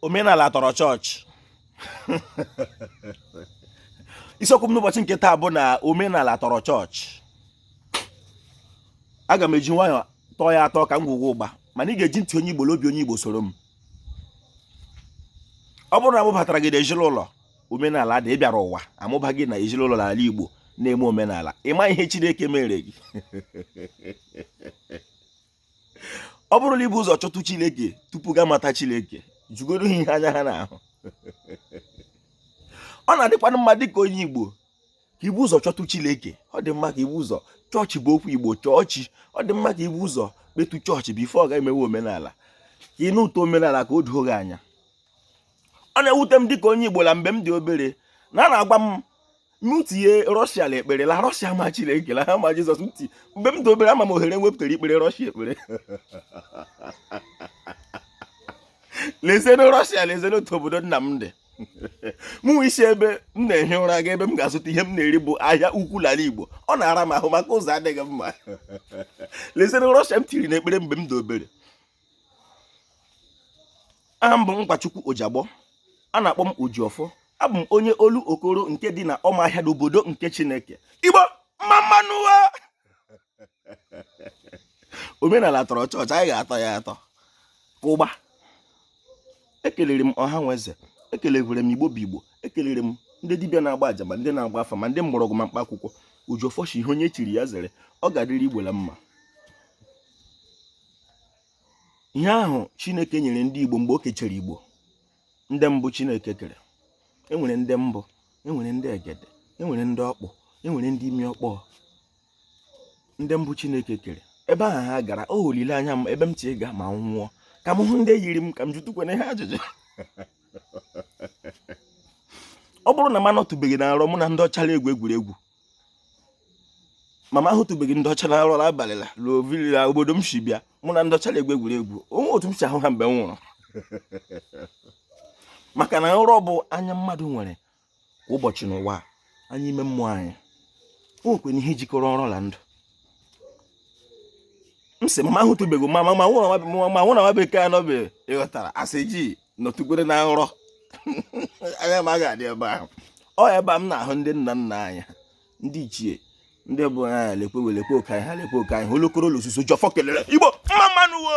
omenala tọrọ chọọchị isiokwu m n'ụbọchị nke taa bụ na omenala tọrọ chọọchị aga m eji nwayọọ tọọ ya atọ ka ngwugwu ụgba mana ị ga-eji ntị onye igbo la obi onye igbo soro m ọ bụrụ na a mụbatara gị na ezinụlọ omenala dị ị bịara ụwa a mụba gị na ezinụlọ n'ala igbo na-eme omenala ị ma ihe chineke mere gị ọ bụrụ na i bu ụzọ chọtụ chineke tupu gị amata chineke jụgodu ha ihe anya ha na-ahụ ọ na-adịkwanụ mma dịka onye igbo ka i bu ụzọ chọtụ chineke ọ dị mma ka i bu ụzọ chọọ chi bụ okwu igbo chọọchị ọ dị mma ka i bu ụzọ kpetụ chọọchị before gị emewe omenala ka ị nụ ụtọ omenala ka o doo gị anya ọ na-ewute m dịka onye igbo na mgbe m dị obere na a na-agwa m m tinye rọshia na ekpere la rọshia ma chineke la ha ma jizọs m tie mgbe m dị obere ama m ohere wepụtara ikpere rọshia ekpere lezienụ rọshia lezienụ otu obodo nna m dị mụ isi ebe m na-ehi ụra ga ebe m ga-azụta ihe m na-eri bụ ahịa ukwu n'ala igbo ọ na-ara m ahụ maka ụzọ adịghị mma lezienụ rọshia m tiri na ekpere mgbe m dị obere aha m bụ Ngwachukwu Ojiagbọ a na-akpọ m Ojiọfọ abụ m onye Olokoro nke dị na Ụmụahịa n'obodo nke Chineke Igbo mma mmanụ omenala tọrọ chọọchị anyị ga-atọ ya atọ ụgba ekelere m ọha na eze ekelere m igbo bụ igbo ekelere m ndị dibịa na-agba aja ma ndị na-agba afa ma ndị mgbọrọgwụ ma mkpa akwụkwọ Ojiọfọ shi ihe onye chiri ya zere ọ ga-adịrị igbo na mma ihe ahụ chineke nyere ndị igbo mgbe o kechara igbo ndị mbụ chineke kere e nwere ndị mbụ e nwere ndị egede e nwere ndị ọkpụ e nwere ndị imi ọkpọ ndị mbụ chineke kere ebe ahụ ha gara ọ olileanya m ebe m chi ga ma m nwụọ ka m hụ ndị yiri m ka m jụtụkwanụ ha ajụjụ ọ bụrụ na m anọtụbeghị na nrọ mụ na ndị ọcha la-egwu egwuregwu ma m ahụtụbeghị ndị ọcha na nrọ la abalị la ruo vilila obodo m si bịa mụ na ndị ọcha na-egwu egwuregwu o nwe otu m si ahụ ha mgbe m nwụrụ maka na nrọ bụ anya mmadụ nwere kwa ụbọchị n'ụwa anya ime mmụọ anyị o nwekwenụ ihe jikọrọ nrọ na ndụ m sị ma m ahụtụbeghị ma mụ na nwa bekee anọbe ị ghọtara asị ji nọtụkwere na nrọ anya m aga adị ebe ahụ ọ ebe a m na-ahụ ndị nna nna anyị ndị ichie ndị bụ anya lekwe welekwe oke anyị ha lekwe oke anyị ha olokoro la osuso Ojiọfọ kelere igbo mma mmanụ wo